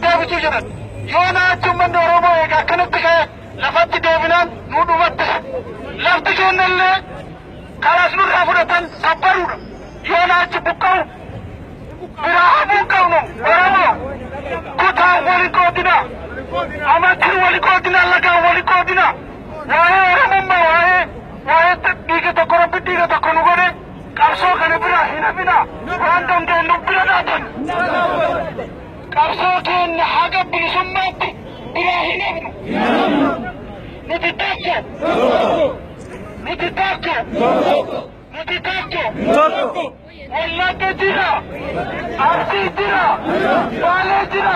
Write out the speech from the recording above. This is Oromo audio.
deebituu jiran yoo naachi ummanni Oromoo egaa akkanatti ka'e lafatti deebinaan nu dhumattis lafti kennallee kalaas nurraa fudhatan sabbaruudha yoo naachi buqqa'u biraa hafuun qabnu Oromoo kutaan wali qoodina amantiin wali qoodina lagaan wali qoodina waa'ee Oromummaa waa'ee waa'ee dhiiga tokko rabbi dhiiga tokko nu godhe Qabsoo kana biraa hin hafinaa. Waan dandeenyu bira dhaabbanna. Qabsoo keenya haga bilisummaatti biraa hin hafnu. Nuti tokko. Nuti tokko. Nuti tokko. Wallagga jira. Arsii jira. Baalee jira.